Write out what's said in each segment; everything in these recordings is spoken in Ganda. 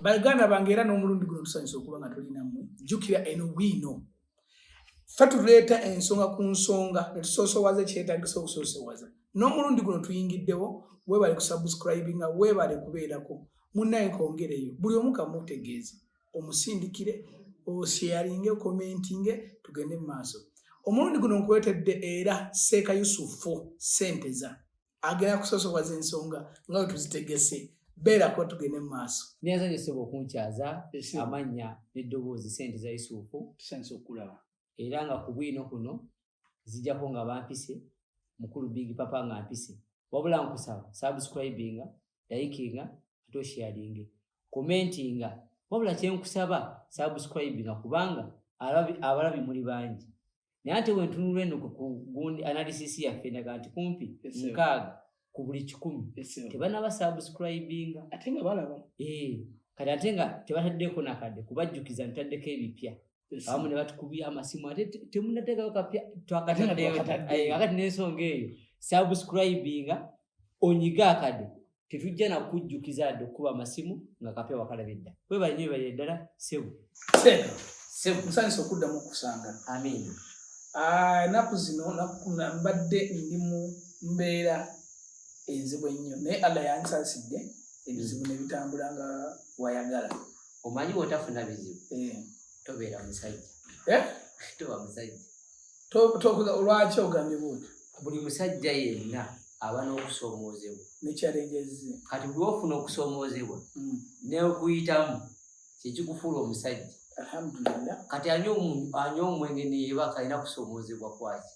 baganda bange era n'omulundi guno tusanyusa okuba nga tulinammwe jjukira eno wiino fe tuleeta ensonga ku nsonga netusoosowaza ekyetagisa okusoosowaza n'omulundi guno tuyingiddewo webale kusubscribinga webale kubeerako munnaye kongereyo buli omu kamutegeeze omusindikire osheyaringe okomentinge tugende mu maaso omulundi guno nkuletedde era seeka yusufu senteza agenda kusosowaza ensonga nga bwe tuzitegese beerako tugende mu maaso neza yoseba okunkyaza amannya n'eddoboozi sente za yusufu tusanisa okukulaba era nga ku bwino kuno zijjako nga bampise mukulu big papa nga mpise wabula nkusaba subscribinga likinga ate osharinge commentinga wabula kyenkusaba subscribinga kubanga abalabi muli bangi naye ate wentunula eno kugundi analysis yaffe ndaga nti kumpi nkaaga ku buli kikumi tebanaba subscribinga ate nga balaba ee eh, kati ate nga tebataddeeko nakadde kubajjukiza ntaddeko ebipya abamu ne batukubya amasimu ate temunateekayo kapya twakataddeyo akati nensonga eyo subscribinga onyiga akade tetujja nakujjukiza yadde okukuba amasimu nga kape wakalaba edda webale nyo webale eddala sebu sebu musanyusa okuddamu okusanga amiina ah, enaku zino mbadde ndi mu mbeera enzibu ennyo naye allah yansasidde ebizibu nebitambula nga wayagala omanyi wotafuna bizibu eh. tobeera musajja eh? toba musajja lwaki ogambye bwotyo buli musajja yenna aba n'okusoomoozebwa nekyalegezze kati buli ofuna okusoomoozebwa hmm. neokuyitamu kyekikufuula omusajja alhamdulillah kati anywa omwenge neyebaka alina kusoomoozebwa kwaki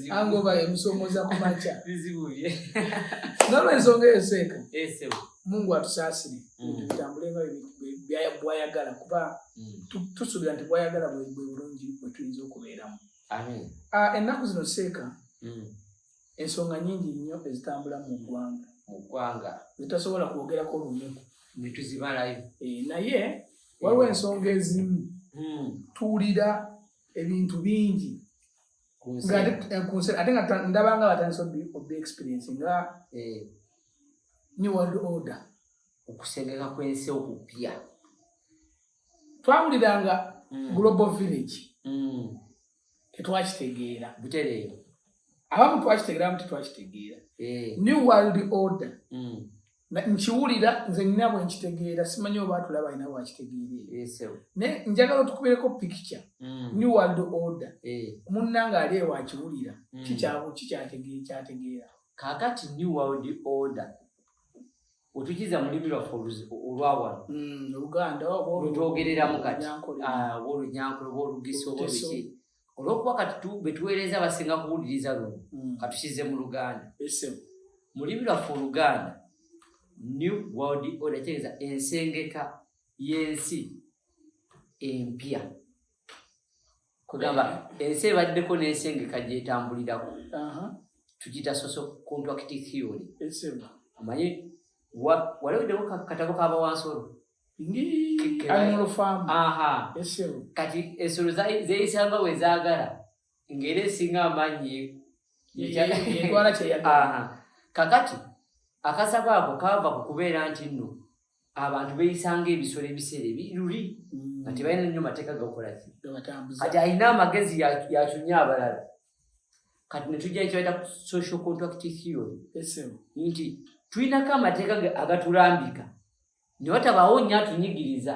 angoba emusomoza kumaca nolwensonga eyo seeka mungu atusaasire mm. tutambule nga bwayagala kuba mm. tusuubira nti bwayagala bwe bulungi bwe tuyinza okubeeramu ah, ennaku zino seeka mm. ensonga nyingi nnyo ezitambula mu ggwanga mu ggwanga zitasobola kwogerako lunaku netuzibalayo eh, naye waliwo ensonga ezimu tuwulira ebintu bingi eh, ate nga ndabanga batandisa obi experience nga eh. new world order okusengeka kwensi okupya twawuliranga mm. global village mm. tetwakitegeera butereero abamu twakitegeera abamu tetwakitegeera eh. new world order mm. nkiwulira nze nina bwenkitegeera simanyi oba atulaba alina bwakitegeeree naye njagala otukubireko pikica mm. new world order eh. munna nga ali ewakiwulira mm. kikyategeera kakati new world order otukiza mulimi lwaffe olwawano mm, lutwogereramu kati ah, oba olunyankole oba olugisa oba biki olwokuba kati betuweereza basinga kuwuliriza luno mm. katukize mu luganda mulimi lwaffe oluganda new world order kitegeeza ensengeka y'ensi empya kugamba ensi ebaddeko n'ensengeka gyetambulirako tugita soso contract theory omanyi waliweddewo katabo kabawansolo kati ensolo zeyisanga wezagala ngaera esinga amaanyi kakati akasaba ako kava ku kubeera nti nno abantu beyisanga ebisolo ebiseera ebiruli mm. nga tebalina nnyo mateeka gakolaki kati alina amagezi yakyunya abalala kati netujja ekibaita social contract theory nti tulinako amateeka agatulambika ne watabaawo nnyo atunyigiriza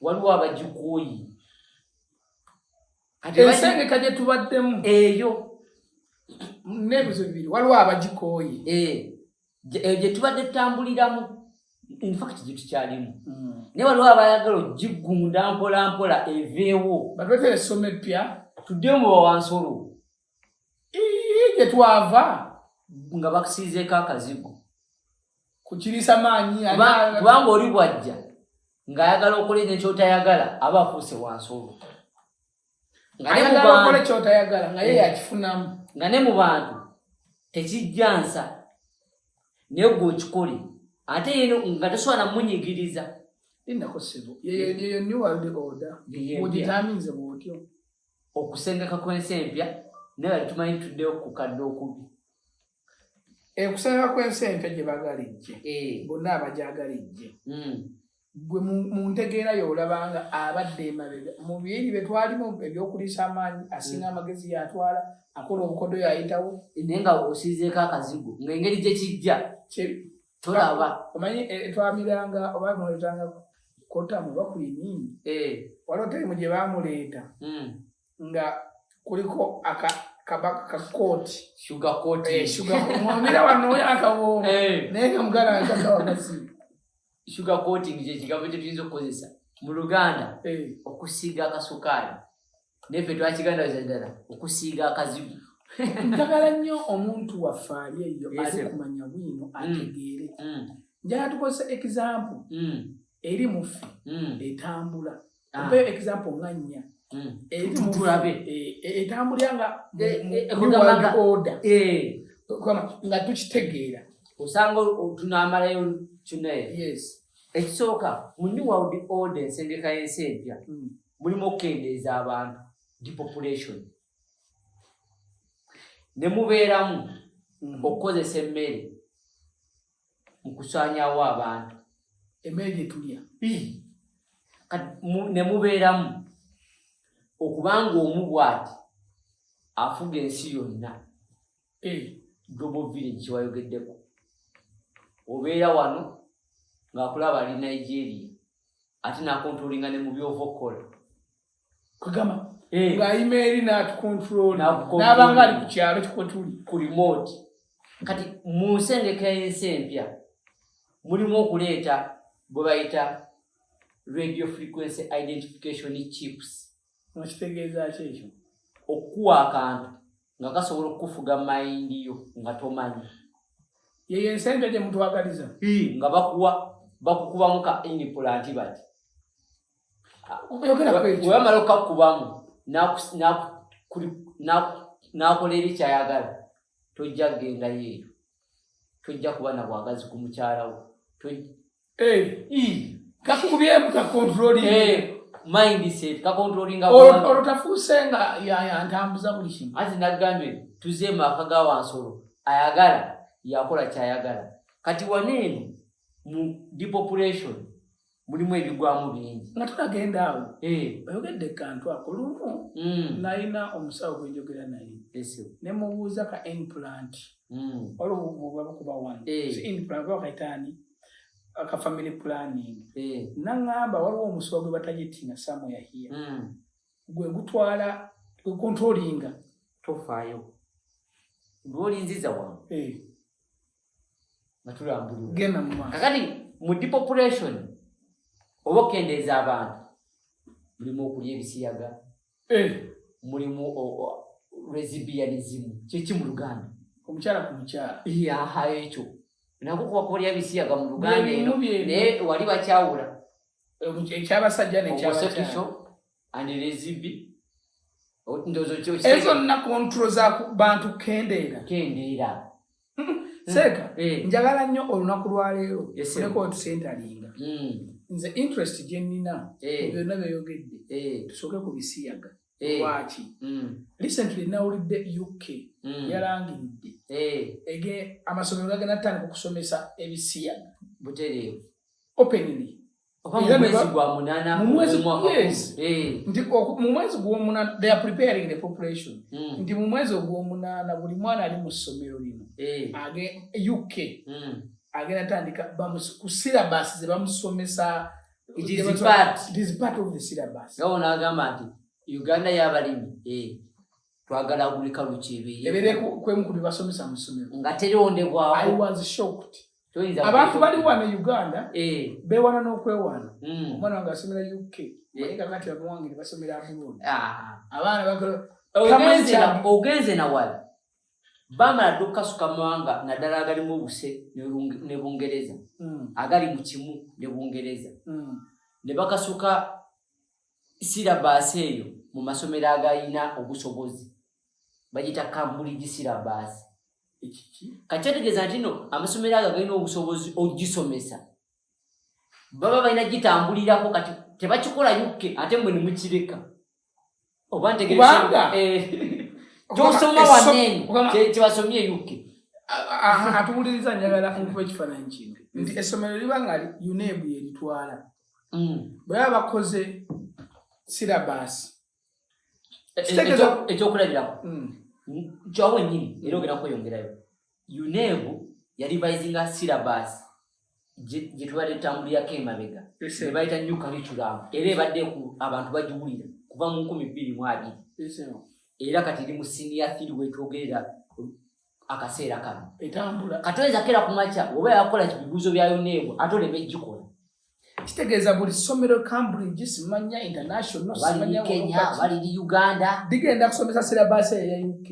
waliwo abagikuuyi ensengeka gye tubaddemu eyo nebizo bibiri waliwo abagikooye eh, eh, gye tubadde tutambuliramu infact gye tukyalimu hmm. naye waliwo abayagala ogigunda mpola mpola eveewo batwete esoma eppya tuddemu bawansolo gye twava nga bakusiizeeko akazigo kukirisa maanyi kubanga oli bwajja ng'ayagala okola ekyo kyotayagala aba afuuse wansi olwo nga ne mu bantu tekijja nsa naye gwe okikole ate yeno nga tosobola namunyigiriza okusengeka kw'ensi empya naye bali tumanyi tuddeyo kukadde okubi ekusabira kwensi empya gye bagala ejje eh. bonna abajagala ejje hmm. gwe mu ntegeera yolabanga abadde emabega mu byeri bye twalimu ebyokuliisa amaanyi asinga hmm. amagezi yatwala akola obukodo yayitawo naye nga osizeeko akazigo ngaengeri gye kijja tolaba omanyi eh, eh, twamiranga oba muletanga kotamu bakuliningi waliwo taimu gye bamuleeta hmm. nga kuliko kabaka ka kooti shuga kooti eh, shuga mwamira wano oyo akawooma eh. naye nga muganda wange kakawa masimu shuga kooti ngi kyekigambo kye tuyinza okukozesa mu luganda eh. okusiiga akasukaali naye fe twakiganda za ddala okusiiga akazibu njagala nnyo omuntu waffe ali eyo ali kumanya bwino mm. ategeere mm. njagala tukozesa example mm. eri muffe etambula mpe ah. example nga nnya hmm. etulabe eh, eh, etambulira nga muwaldi eh, order nga tukitegeera osanga tunamalayo kinaye yes ekisooka mu new world order ensengeka y'ensi empya hmm. mulimu okukendeeza abantu depopulation ne mubeeramu hmm. okukozesa emmere mu kusaanyaawo abantu emmere gye tulya ne mubeeramu okubanga omu bwati afuga ensi yonna eh. global village kyewayogeddeko obeera wano ng'akulaba ali nigeria ate nakontrolinga ne mu byova okukola kugamba eh. nga ayima eri n'atukontrolnabanga ali ku kyalo kikotuli ku remote kati mu nsengeka ensi empya mulimu okuleeta bwe bayita radio frequency identification chips okitegeeza ki ekyo okukuwa akantu nga kasobola okukufuga mayindi yo nga tomanyi yeyo ensente gyemutwagaliza nga bakuwa bakukubamu ka inipulantibati weyamala okukakkubamu n'akola eri kyayagala tojja kugenda yeeyo tojja kuba na bwagazi ku mukyalawo kakubyemu kakontroli mindset kakontrolinga olwo tafuuse nga yantambuza buli kimu anti nagambye tuze maaka ga wansolo ayagala yakola kyayagala kati waneeno mu depopulation mulimu ebigwamu bingi nga tunagenda awo eh. oyogedde kantu ako lumu hmm. nalina omusawo gwenjogera naye nemubuuza ka implant hmm. olwobakuba wanekaitani eh. ka family planning eh. naŋamba waliwo omusawo gwe batagitinga samuyahiya hmm. gwe gutwala gwekontrolinga tofaayo lwolinziza wange nga tulambulula kakati mu depopulation oba okendeeza abantu mulimu okulya ebisiyaga eh. mulimu resibianizimu kyeki mu luganda omukyala ku mukyala yaha ekyo nako kuba kulya bisiyaga mu luganda eno naye wali bakyawula eh, ekyabasajja nekyasekikyo anelezibi ndozo kyo ezo na control za bantu kendeera kendeera seeka mm. eh. njagala nnyo olunaku lwaleero oleko tusentalinga mm. nze interest gyenina eh. byonna byeyogedde eh. tusooke ku bisiyaga lwaki mm. recently nawulidde uk yalangiridde ege amasomero gagenda tutandika okusomesa ebisiyaga butereevu openly mumwezi gwomunana they are preparing the population mm. nti mumwezi ogwomunana buli mwana ali mu ssomero lino eh. age uk mm. agenda tandika ku syllabus zebamusomesa nagamba nti uganda yabalimi eh. twagala gulika lukyebeye eberekwemukubibasomesa mu ssomero nga terondebwawo abantu bali wano e uganda eh. bewana n'okwewaana hmm. omwana wange asomera uk eh. naye kakati abawange ne basomera abroad ah. abaana ogenze nawala bamala dde okukasuka mawanga naddala agalimu obuse ne bungereza hmm. agali mu kimu ne bungereza hmm. ne bakasuka sirabaasi eyo mu masomero agalina obusobozi bagita kambuligi sirabaasi kakyategeeza nti no amasomero ago galina obusobozi ogisomesa baba balina gitambulirako kati tebakikola yukke ate mwe nemukireka oba ntegeezanga eh, gyosoma wanene kyebasomye yukke atuwuliriza njagala nkuba ekifaananyi kintu nti essomero liba nga unebu yeritwala mm. bwe baba bakoze sirabaasi ekyokulabirako hmm. kyawo wenyini era ogenda kweyongerayo unebu yarivisinga syllabus gyetubadde tambulirako emabega ebayita new curriculum era ebadde ku abantu bagiwulira kuva mu nkumi bbiri mu abiri era kati eri mu siniya thiri wetwogerera akaseera kano etambula katoyinza kera ku makya oba yakola kibibuuzo byayo neebo ate oleme gikola kitegeeza buli somero cambridge simanya international simanya kenya baliri uganda digenda kusomesa sirabaasi eya uk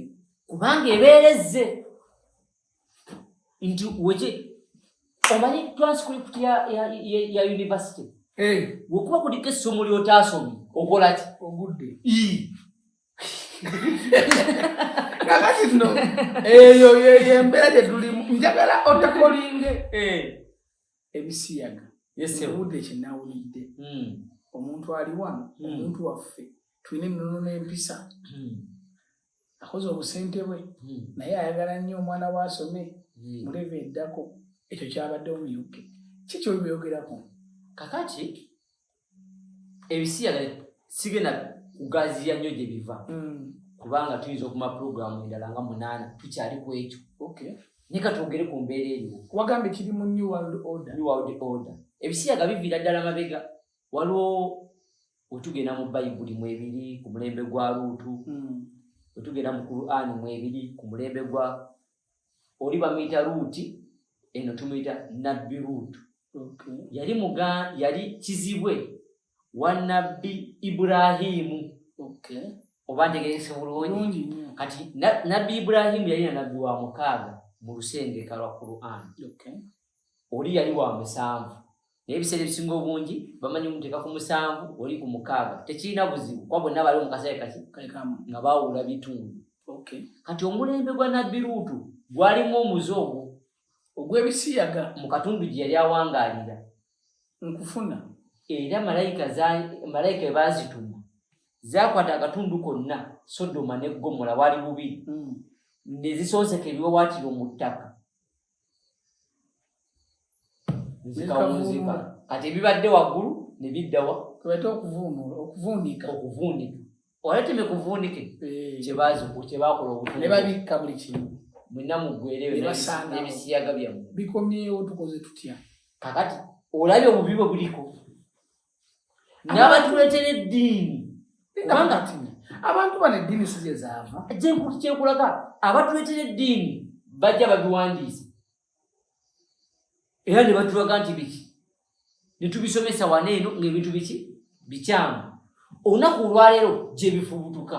kubanga ebeerezze nti weki omanyi transcript ya, ya, ya, ya university hey. Eh. wekuba kuliko essomo lyotaasomye okolaki ogudde kakati no eyo yeyembeera gyetulimu njagala otakolinge eh. ebisiyaga ebude kyenawulidde hmm. omuntu ali wano hmm. omuntu waffe tulina ennono n'empisa hmm. akoze obusente bwe naye ayagala nnyo omwana we asome muleva eddako ekyo kyabadde omuyuke kikyo byogerako kakati ebisiyaga sigenda kugaziya nnyo gye biva mm. kubanga tuyinza okuma pulogulaamu endala nga munaana tukyali ku ekyo naye katwogere ku mbeera eriwo wagambye kiri mu new world order new world order ebisiyaga biviira ddala mabega waliwo wetugenda mu bayibuli mwebiri ku mulembe gwa luutu mm. wetugenda mu qur'ani mwebiri ku mulembe gwa oli bamuyita luuti eno tumuyita nabbi luutu yali muga yali kizibwe wa nabbi iburahimu oba ntegerese bulungi kati nabbi iburahimu yali na nabbi wa mukaaga mu lusengeka lwa qur'an oli yali wa musanvu naye ebiseera ebisinga obungi bamanyi muteeka ku musanvu oli ku mukaaga tekirina buzibu kuba bonna bali omukaseera kaki nga bawula bitundu kati omulembe gwa nabbi luutu gwalimu omuze ogwo ogw'ebisiyaga mu katundu gye yali awangaalira nkufuna era malayika malayika ebaazituma zakwata akatundu konna sodoma ne ggomola waali bubiri hmm. ne zisonseka ebiwawaatiro mu ttaka nzikawunzika kati ebibadde waggulu ne biddawa kwebata okuvuunula okuvuunika okuvuunika oleteme kuvuunike eh. kyebakola obutne babikka buli kimu mwena mugwereebisiyaga byammwe bikomyewo tukoze tutya kakati olabye obubi bwe buliko nabatuletera eddiini kubanga tini abantu bano eddiini si gye zaava kyenkulaga abatuletera eddiini bajja babiwandiise era ne batulaga nti biki ne tubisomesa wano eno ng'ebintu biki bikyamu olunaku olwaleero gye bifubutuka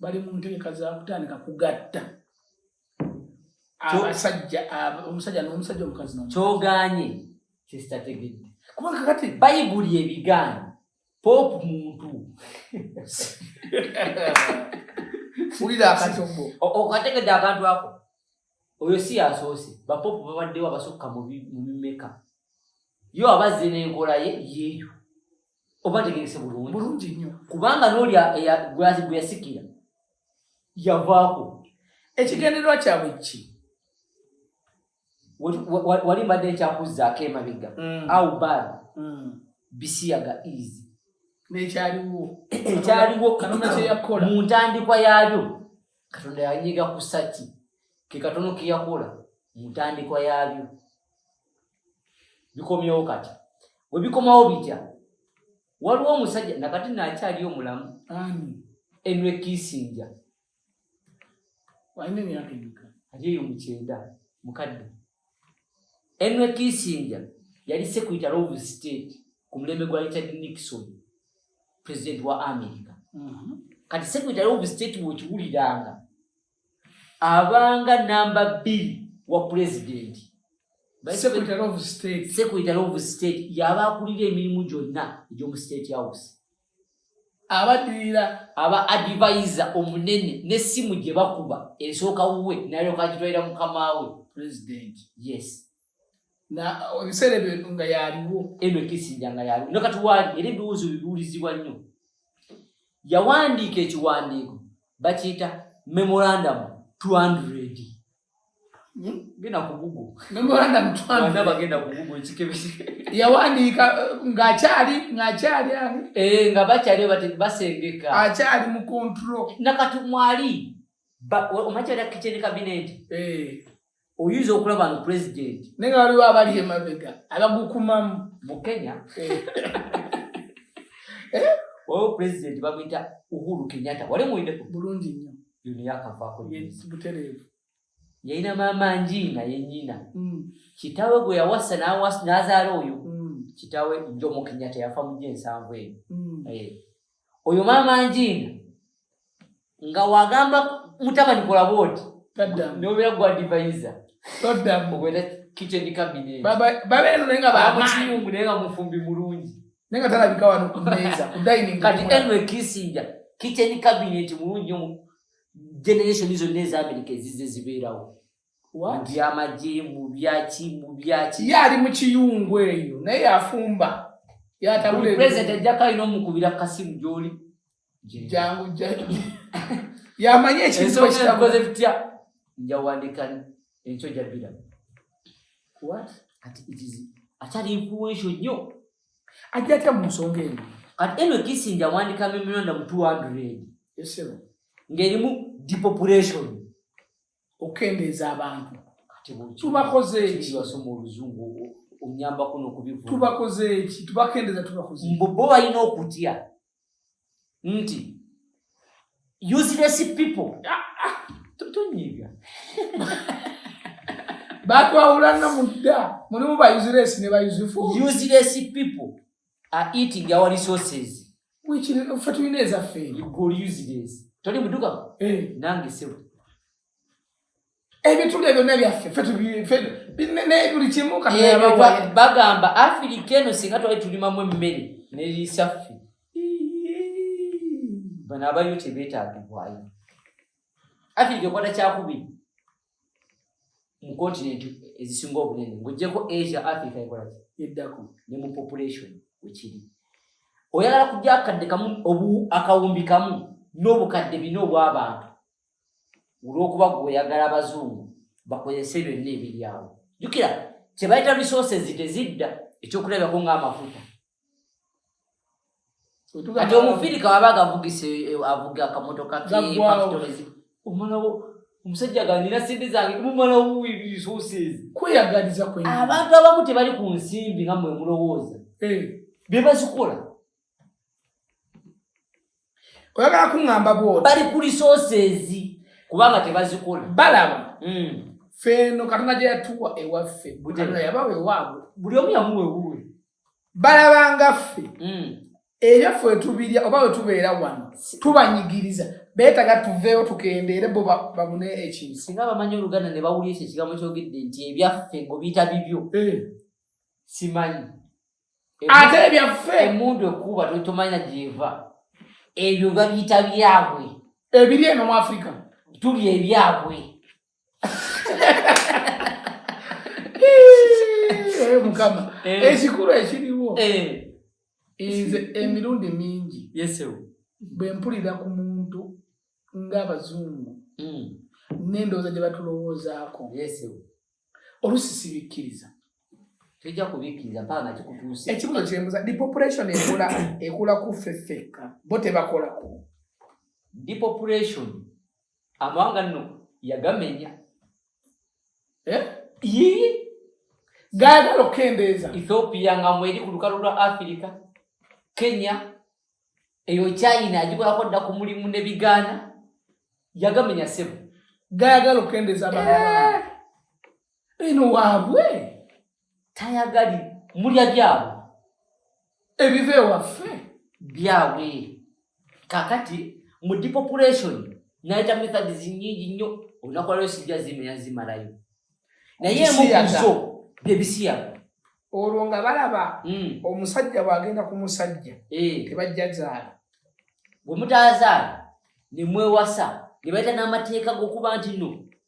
bali mu ntegeka za kutandika kugatta abasajja omusajja n'omusajja omukazi kyoganye kyesitategedde kubanga kati bayibuli ebigaanyi popu muntu wulira akacobo okategedde akantu ako oyo si yasoose bapopu babaddewo abasukka mu mimeka yo abazze n'enkola ye yeeyo oba tegese bulungi bulungi nnyo kubanga n'oli gwazi gwe yasikira yavaako ekigendererwa kyabwe ki wali mbadde nkyakuzzaako emabega mm. au bad mm. bisiyaga easy nekyaliwo ekyaliwo mu ntandikwa yaalyo katonda yanyiga kusaki ke katono keyakola mu ntandikwa yaalyo bikomyewo kati we bikomawo bitya waliwo omusajja nakati nakyali omulamu enwe kisinja alieyo mukyenda mukadde enwe kisinja yali secretary of state ku mulembe gwa richard nixon president wa america mm -hmm. kati secretary of state wekiwuliranga abanga namba bbiri wa pulezidenti secretary of state secretary of state yaba akulira emirimu gyonna egy'omu state house abadirira aba advisor omunene n'essimu gye bakuba esooka wuwe nalyoka agitwalira mukama we president yes na ebiseera ebyo nga yaliwo edwe kisija nga yaliwo no kati wali era ebiwuzo bibuulizibwa nnyo yawandiika ekiwandiiko bakiyita memorandum 200 hmm? genda ku google memorandum 200 bagenda ku google ekikebe yawandiika eh, ng'akyali ng'akyali ani eh nga bakyali bati basengeka akyali mu control nakati mwali omakyali kitchen cabinet eh oyinza okulaba no pulezidenti naye nga waliwo abali emabega abagukumamu mu kenya eh. Eh? waliwo pulezidenti bamwita uhuru kenyatta wali muwine bulungi nnyo yuno yakavaako butereevu yalina maama njiina yenyina hmm. kitawe gwe yawasa n'azaala oyo hmm. kitawe njomu kenyatta yafa mu gyensanvu eyo hmm. eh. oyo maama njiina nga wagamba mutabani kola bwoti nobeera gwadivayiza obeera kitchen cabinet babeera naye nga bamukiyungu naye nga mufumbi mulungi naye nga talabika wano ku mmeeza ku dining kati enwe kisinja kitchen cabinet mulungi generation zonna eza amerika ezize zibeerawo mubyamagye mubyaki mubyaki ye ali mu kiyungu eyo naye yafumba yatabula president ajjako alina omukubira kasimu gyoli jangu yamanye ekintukoze bitya njawandika enkyo jabira akyali influential nnyo ajja atya mu nsonga eno kati eno kisinja wandika memorandum 200 ngerimu depopulation okukendeeza abantu tubakoze ekibasoma oluzungu onyambako nokubivu tubakoze eki tubakendeeza tubakoze mbu bo balina okutya nti useless people ah, ah, tonyiga batwawulanna mudda mulimu ba useless ne ba useful useless people are eating our resources which ffe tulina ezaffe you go use this toli muduka eh. nange sebo ebituli ebyo nebyaffe buli kimu bagamba afirika eno singa twali tulimamu emmere neriisa ffe bano abayo tebetagibwayo afirika ekwata kyakubiri mu continent ezisinga obunene ng'ogyeko asia africa ekolaki eddako ne mu population wekiri oyagala kujja akadde kamu obu akawumbi kamu n'obukadde bina obw'abantu olw'okuba gwe oyagala abazungu bakozese byonna ebiri awo jukira kyebayita resources tezidda ekyokulabirako ng'amafuta kati omufirika waba agavugisa eh, avuga akamotoka kefactories omalawo omusajja ganina sente zange mumalawo resources kweyagaliza kwe abantu abamu tebali ku nsimbi nga mwe mulowooza eh. bebazikola oyagala kuŋamba bwoti bali ku resources kubanga tebazikola balaba hmm. feeno katonda gye yatuwa ewaffe buli omu yamuwewuwe balabanga ffe mm. ebyo ffe wetubirya oba wetubeera wano tubanyigiriza beetaga tuveewo tukendeere bo babune ekintu singa bamanyi oluganda ne bawulira ekyo ekigambo kyogedde nti ebyaffe ngobiyita bibyo eh. simanyi ate ebyaffe emundu ekuba tomanya gyeva ebyo babiyita byabwe ebiri eno mu afirika tuli ebyabwe Eh, mukama eh. ekikulu ekiriwo eh. nze emirundi mingi bwe mpulira ku muntu ng'abazungu mm. n'endowooza gye batulowoozaako olusi sibikkiriza tujja kubikkiriza mpaka nga kikutuuse ekibuzo kyembuza depopulation ekula ekula ku ffe ffekka bo tebakolako depopulation amawanga nno yagamenya eh? yii gaagala okukendeeza ethiopia nga mweri ku lukalu lwa afirika kenya eyo china agikolako dda ku mulimu ne bigaana yagamenya sebo gaagala okukendeeza baa eh. eno waabwe tayagali mulya byabwe ebiva ewaffe byabwe kakati mu depopulation nayita methods nyingi nnyo olunaku lwaleo sijja zimenya zimalayo naye emukuzo byebisiyaga olwo nga balaba hmm. omusajja bwagenda ku musajja eh. tebajja zaala bwe mutazaala ne mwewasa ne baita n'amateeka g'okuba nti no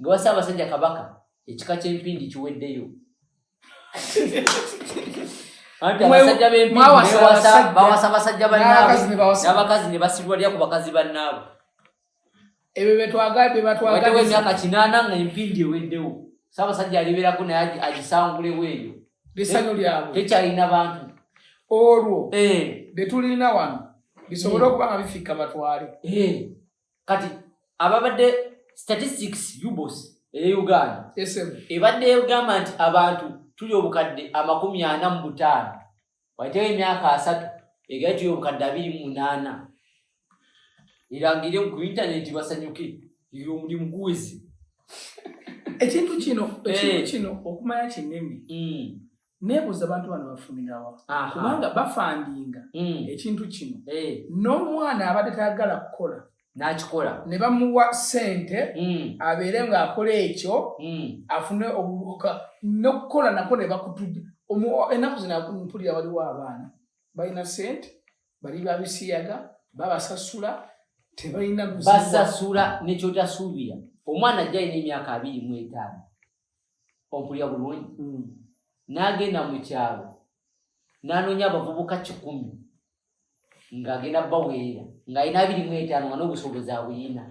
ngewa ssaabasajja kabaka ekika kyempindi kiweddeyo anti abasajja bempindibawasa basajja banaabnabakazi ne basirwalya ku bakazi bannaabo ebyo betwagaebatwagaewo emyaka kinaana nga empindi eweddewo ssaabasajja alibeerako naye agisangulewo eyo lisanyo lyabwe tekyalina bantu olwo eh. betulina wano bisobole mm. okuba nga bifikka batwale eh. kati ababadde statistics ubos eye uganda ebadde egamba nti abantu tuli obukadde amakumi ana mu butaano waitewo emyaka asatu egaye tuli obukadde abiri mu munaana erangire ku intaneti basanyuke iri omulimu guwezi ekintu kino ekintu eh. kino okumanya kinene mm. nebuuza abantu bano bafunirawa kubanga bafandinga hmm. ekintu kino eh. n'omwana abadde tayagala kukola n'akikola ne bamuwa ssente hmm. abeere ng'akola ekyo hmm. afune obubuka n'okukola nako ne bakutudde ennaku zina mpulira waliwo abaana balina ssente bali babisiyaga babasasula tebalina basasula nekyotasuubira omwana ajja alina emyaka abiri mu etaano ompulya bulungi hmm. n'agenda mu kyalo n'anoonya abavubuka kikumi ng'agenda baweerera ng'alina abiri mu etaano nga n'obusobozi abuyina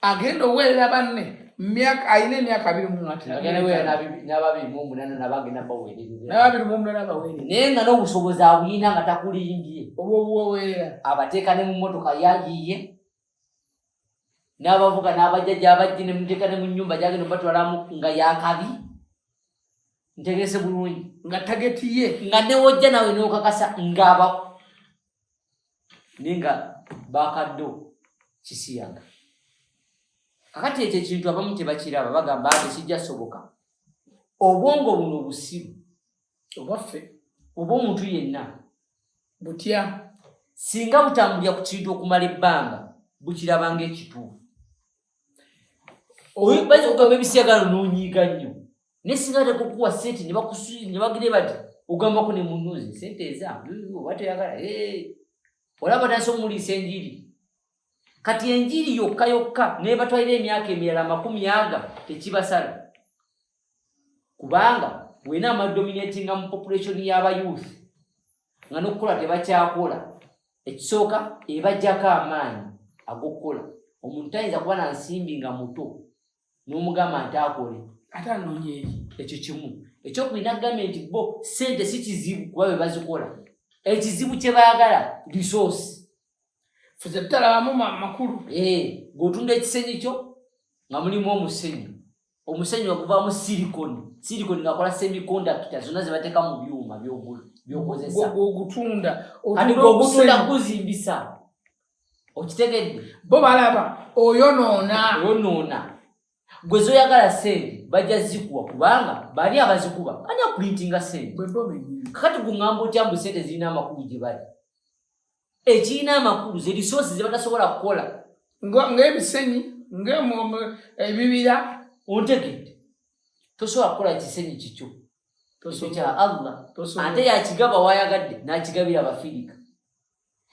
agenda oweerera banne myaka alina emyaka abiri munababiri mumunana nabagenda baweerernababiri mumunana baweerera naye nga n'obusobozi abuyina nga takulimbye obwobuwoweerera abateeka ne mu motoka yayiye n'abavuga n'abajja gyabajji ne muteeka ne mu nnyumba gyagenda obatwalamu nga yakabi ntegese bulungi nga tageti ye nga newojja nawe n'okakasa ngaaba naye nga bakaddo kisiyaga kakati ekyo ekintu abamu tebakiraba bagamba ate kijja soboka obwongo buno busiru obwaffe oba omuntu yenna butya singa butambulira ku kintu okumala ebbanga bukirabanga ekituufu oyinza okugamba ebisiagalo nonyiiga nnyo naye singa tekukuwa sente nebagire bati ogambako ne munuzi sente eza oba teyagala olaba nasi omuliisa enjiri kati enjiri yokka yokka nebatwalira emyaka emirala amakumi aga tekibasala kubanga wena amadominatinga mu population y'abayouth nga nokukola tebakyakola ekisooka ebajjako amaanyi agokukola omuntu tayinza kuba na nsimbi nga muto n'omugamba nti akole ate anoonya eri ekyo kimu ekyokulina kugambye nti bo sente si kizibu kuba be bazikola ekizibu kye baagala resource fuze tutalabamu makulu eh, ng'otunda ekisenyi kyo nga mulimu omusenyi omusenyi oguvamu silikoni silikoni ngakola semikondakita zonna zebateeka mu byuma byokozesagutunda kati gogutunda guzimbisa okitegedde bo balaba oyonoona oyonoona gwe zoyagala sente bajja zikuwa kubanga bali abazikuba ani akulintinga sente kakati gungamba otya mbu sente zirina amakulu gye bali ekirina amakulu zerisosi zebatasobola kukola ngaebisenyi ebibira ontegedde tosobola kukola kisenyi kikyo ekyo kya allah ate yakigaba wayagadde nakigabira abafirika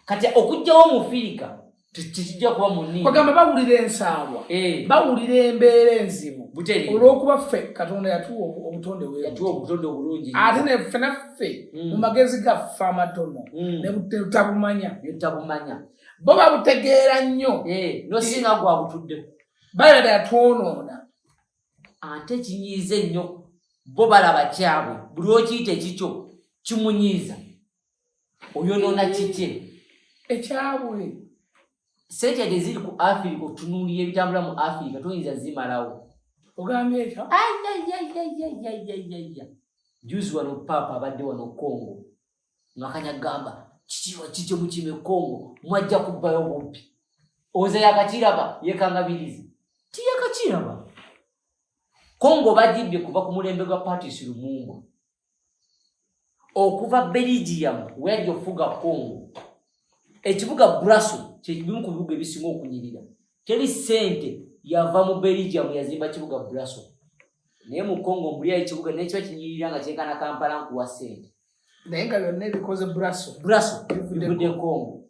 kati okugjawo mufirika tekijja kuba munigamba bawulira ensaalwa eh. bawulira embeera enzibu olwokuba ffe katonda yatuwa obutonde obulungi ate neffe ffe mm. mu magezi gaffe amatono mm. nebutabumanya nebutabumanya bo babutegeera nnyo eh, nosinga gwa butudde balaba yatwonoona ate kinyiiza ennyo bo balaba kyabwe buli okiyita ekikyo kimunyiiza oyonoona kikye ekyabwe sente yadde ziri ku afirika otunuulira ebitambula mu afirika toyinza zimalawo ogambye ekyo ayayayayayayaya juzi wano paapa abadde wano kongo ngakanya gamba kikiwa kikyo mukime kongo mwajja kubbayo bubbi oze yakakiraba yekangabirizi tiyakakiraba kongo bajibbye kuva ku mulembe gwa patis lumumbwa okuva belgium weyajja okufuga congo ekibuga braso kyekibimu ku bibuga ebisinga okunyirira teri sente yava mu belgium yazimba kibuga braso naye mu congo mbuliyo ekibuga naye kiba kinyirira nga kyenkana kampala nkuwa sente naye nga byonna ebikoze braso braso bivudde congo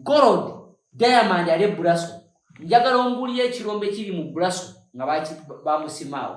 gold diamond ali braso njagala ombuliyo ekirombe kiri mu braso nga bamusimaawo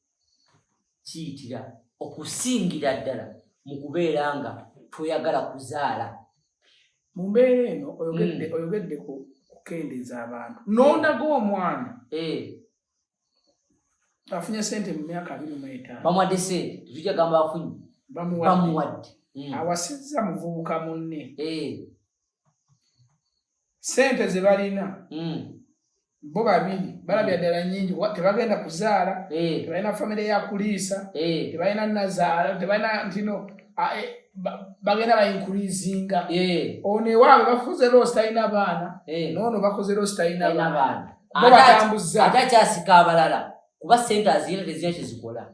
kiyitira okusingira ddala mu kubeera nga toyagala kuzaala mu mbeera eno oyogedde hmm. oyogedde ku kukendeeza abantu n'ondaga omwana eh. afunye sente mu myaka abiri mu etaano bamuwadde sente tujja gamba afunye bamuwadde hmm. awasizza muvubuka munne eh. sente ze balina mm. bo babiri balabya ddala nyingi tebagenda kuzaala eh. tebalina famire yakuliisa eh. tebalina nazaala tebalina ntino e, bagenda bayinkurizinga eh. ono ewaabwe bafuze loosi talina baana noono bakoze loosi talina baana bo batambuza ate akyasika abalala kuba sente aziyina tezina kyezikola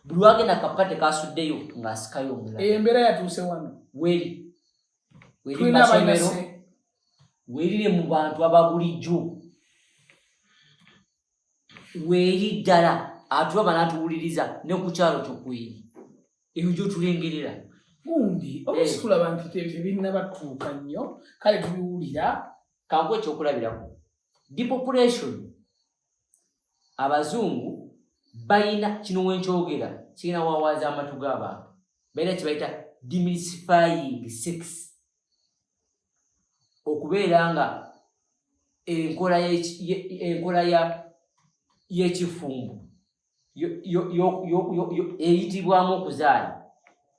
buli wagenda kapate kasuddeyo ng'asikayo omulala eyo embeera yatuuse wano weri weri masomero werire mu bantu ababulijjo weri ddala atulaba n'atuwuliriza ne ku kyalo kyokweri eyo gyotulengerera gundi olusi eh. tulaba nti tebinnabatuuka nnyo kale tubiwulira kangu ekyokulabirako depopulation abazungu bayina kino wenkyogera kirina wawaaza amatu g'abantu balina kyebayita dimisifying sex okubeera nga enkola y'ekifumbo eyitibwamu okuzaala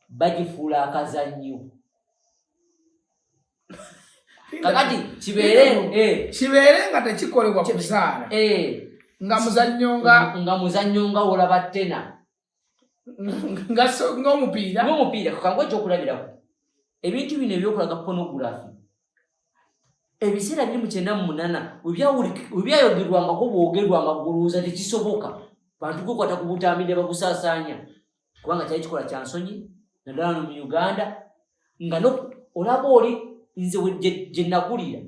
bagifuula akazannyo kakati kibeere eh. kibeere nga tekikolebwa kuzaala eh. nga muzannyo nga nga muzannyo nga wolaba tena ngaomupiira ngaomupiira kakangwa ekyokulabirako ebintu bino ebyokulaga pornography ebiseera biri mu kyenda mu munana webyayogerwangako bwogerwa amaguluuza tekisoboka bantu kwekwata ku butambi ne bakusaasaanya kubanga kyali kikola kya nsonyi naddala no mu uganda nga olaba oli nze gye nakulira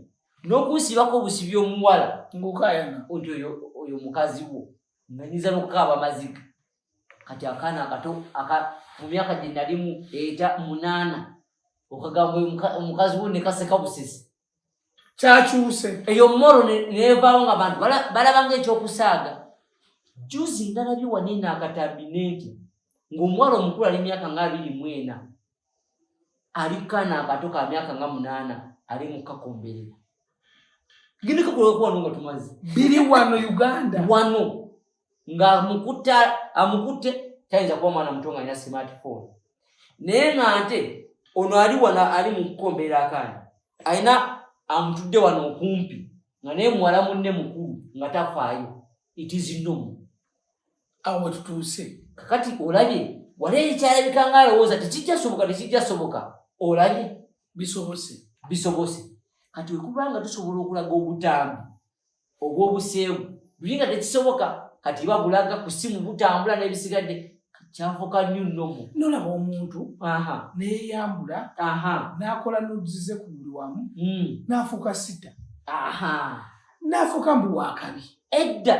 n'okunsibako obusibi omuwala nti oyo mukazi wo nga nyinza n'okukaaba amaziga kati akaana akato mu myaka gye nalimu eta munaana okagamba omukazi wo nekaseka busesi kyakyuse eyo moro nevaawo nga bantu balabanga ekyokusaaga juzi ndalabye wanene akatambi nenti ngaomuwala omukulu ali myaka nga abiri mwena alikana akato ka myaka nga munaana ali mukakomberera ginikakulwakuwano nga tumazi biri wano uganda wano nga mukuta amukutte tayinza kuba mwana muto nga alina smartphone naye nga nte ono ali wano ali mukukomberera akana alina amutudde wano okumpi nga naye muwala munne mukulu nga tafaayo it is normal awo wetutuuse kakati olabye wali ekyalabika nga alowooza tekijja soboka tekijja soboka olabye bisobose bisobose kati wekuba nga tusobola okulaga obutambi obwobuseebu buli nga tekisoboka kati iba bulaga ku simu butambula n'ebisigadde kyafuka nyo nnomu nolaba omuntu neyeyambula nakola nuzize ku buli wamu hmm. nafuuka sita nafuuka mbu wakabi edda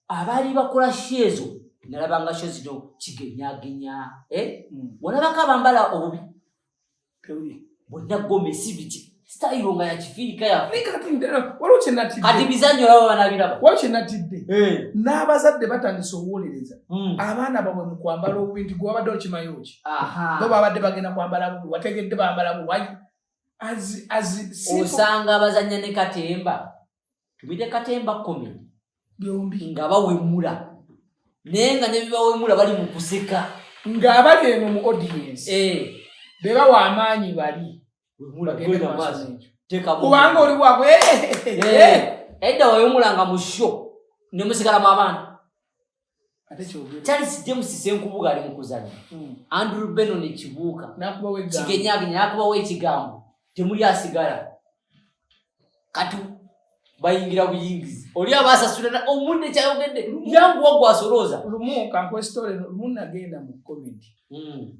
abaali bakola sho ezo nalabanga sho zino kigenyagenya eh? hmm. walabako abambala obubi bonna gomesi biti sitayiro nga yakifiirika yafekati bizanyo laba banabiraba wali kyenatidde eh. n'abazadde batandise obuwolereza hmm. abaana babwe mu kwambala obubi nti gwewabadde okimayo ki bo babadde bagenda kwambala bubi wategedde bambala bubi osanga abazanya ne katemba tubide katemba komedi byombi nga bawemula naye nga nebibawemula bali mu kuseka nga abali eno mu audience eh. bebawa amaanyi bali kubanga oli bwabwe eh, eh. edda wawemulanga mu sho nemusigala mu abaana charles james senkubuga ali mukuzanya hmm. andrew benon ekibuuka kigenyagenya nakubawo ekigambo temuli asigala kati bayingira buyingizi oli abasasulana omuntu ekyayogedde yangu wagwasolooza lumu kankwesitole lumu nagenda mu komenti hmm.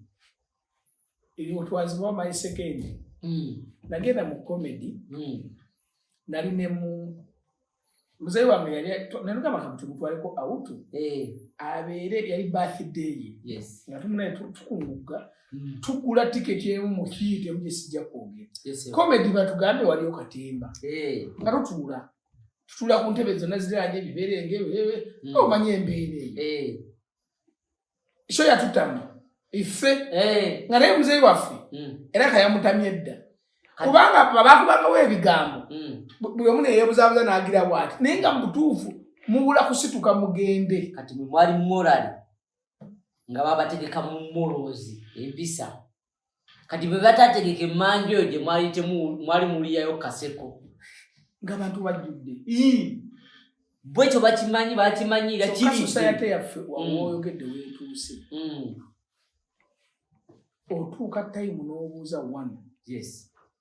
ebyo twazibawa my second mm. nagenda mu comedy mm. nali ne mu muzeyi wange yali nanugamba kamutugutwaleko awutu eh. abeere yali birthday ye nga tumunaye tukungugga mm. tugula tiketi emu mu kiiti emu gyesijja kwogera comedy batugambe waliyo katemba eh. nga tutuula tutuula ku ntebe zonna ziranye ebiberenge omanya embeera eyo eh. so yatutamye iffe eh. nga naye muzeeyi waffe hmm. era kayamutamye edda kubanga babakubangawo ebigambo hmm. buli omu neyebuzabuza nagira bwati naye nga mubutuufu mubula kusituka mugende kati mwali morali nga babategeka mumorozi empisa kati bwe batategeka emmanju eyo gye mwali mwali muliyayo kaseko nga bantu bajjudde bwekyo bakimanyi bakimanyira kirisosayate yaffe wawoyogedde mm. wetuuse mm. otuuka tayimu n'obuuza one yes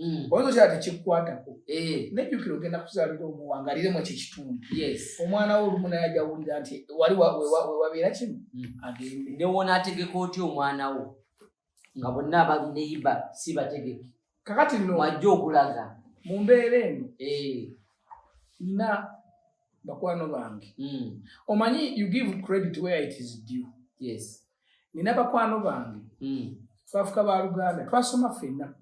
mm. oyinza okira ti kikukwatako eh. nejjukira ogenda kuzaalira omuwangaliremu ekyo ekitundu omwana wo olumu naye ajawulira nti wali wewabeera kino mm. agende newona ategeka otya omwana wo nga bonna abali neyiba si bategeke kakati no wajja okulaga mu mbeera eno eh. nina bakwano bange mm. omanyi you give credit where it is due yes nina bakwano bange hmm. twafuka ba luganda twasoma fenna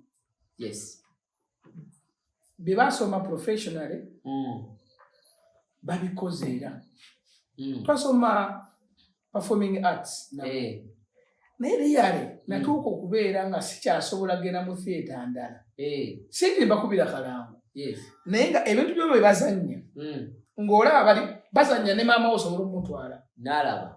bebasoma professionally hmm. babikoze era hmm. twasoma performing arts eh. naye liyale natuuka okubeera nga sikyasobola genda mu theatre ndala eh. sinti mbakubira kalango naye nga ebintu byo bebazanya ng'olaba bali bazanya ne maama wo osobola omutwala nalaba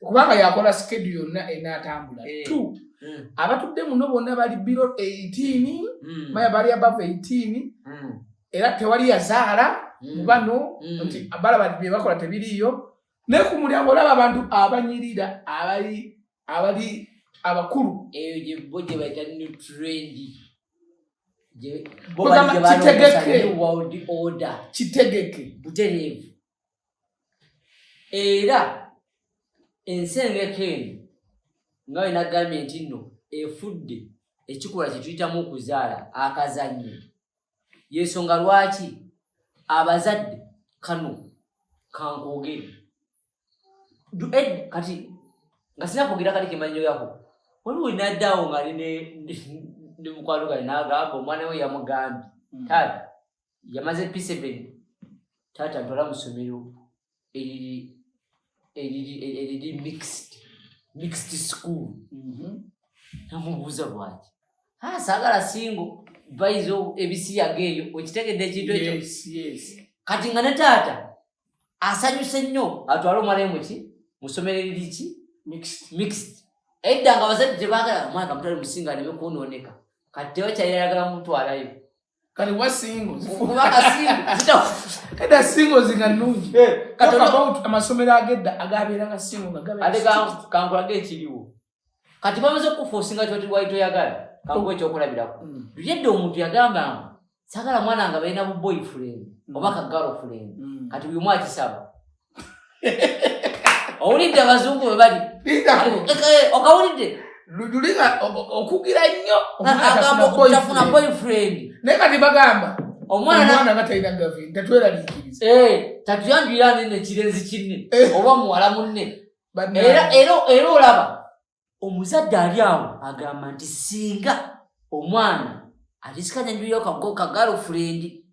kubanga yakola skedu yonna enaatambula eh. t hmm. abatudde muno bonna bali biro 18 hmm. maya bali abava 18 hmm. era tewali yazaala mu bano nti balaba bye bakola tebiriiyo naye ku mulyango olaba abantu abanyirira abali abali abakulu eyo gyebo gye bayita new trendi kitegeke kitegeke butereevu era ensengeka eno nga we nagambye nti nno efudde ekikola kyetuyitamu okuzaala akazannyo yensonga lwaki abazadde kano kankoogere kati nga sina kwogera kati kemanyo yako waliwo wenaddawo nga ali ne mukwano gale nagamba omwana we yamugambye hmm. taata yamaze piseben taata ntwala musomero eriri eriri eriri mixed mixed school mhm. namubuuza bwaki ah, saagala singo baizo ebisiyaga eyo okitegedde ekintu ekyo kati nga ne taata asanyuse nnyo atwala omwana emuki musomero eriri ki mixed edda nga abazadde tebagala omwana kamutwale musinga neme kwonooneka kati tebakyayagala mutwalayo kale wa singo eda singo zinga nungi eh, about amasomero agedda agabeera nga singo nga gabekankulage ekiriwo kati bamaze kukufuusinga kyoti wali toyagala kankuwa oh. ekyokulabirako mm. yedda omuntu yagamba nga sagala mwana nga balina bu boyfriend mm. oba ka girlfriend mm. kati buli omu akisaba owulidde abazungu bwe bali okawulidde lujuliga okugira nnyo tafuna boyfriend naye kati bagamba omwana nga talina gavi tatweraliikiriza eh, tatuyanjuyira nene kirenzi kinne eh. oba muwala munne era olaba omuzadde ali awo agamba nti singa omwana atisikanya njuyo kago kagalo fulendi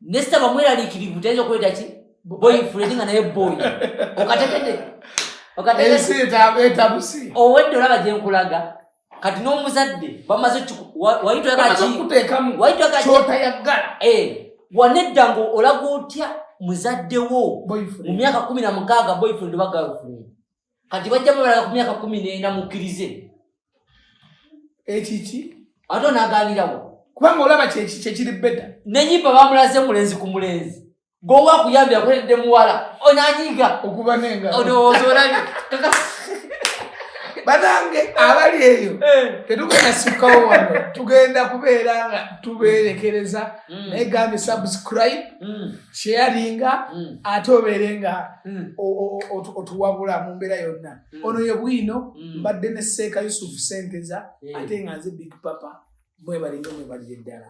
nesita bamweralikirivu tayinza okuleeta ki boyi fulendi nga naye boyi okategede okategeetabusi owedde olaba gyenkulaga kati n'omuzadde bamaze wayitwakakyotayaggala eh, wanedda nga olaga otya muzadde wo mu myaka kumi na mukaaga boyfriend oba girlfriend kati bajja babalaga ku myaka kumi nena mukkirize ekiki ate onaganirawo kubanga olaba kyekiri beda nenyimba bamulaze mulenzi ku mulenzi gowa kuyambira kuledde muwala onanyiga okuba nenga olowooza olabi banange abali eyo eh. tetugenda sikawo wano tugenda kubeera nga tubeerekereza mm. naye gambe subscribe mm. sheyaringa mm. ate obeere nga mm. otuwabula mu mbeera yonna mm. ono ye bwino mbadde ne seeka yusufu senteza ate nga nze big papa mwebalinga mwebalire ddala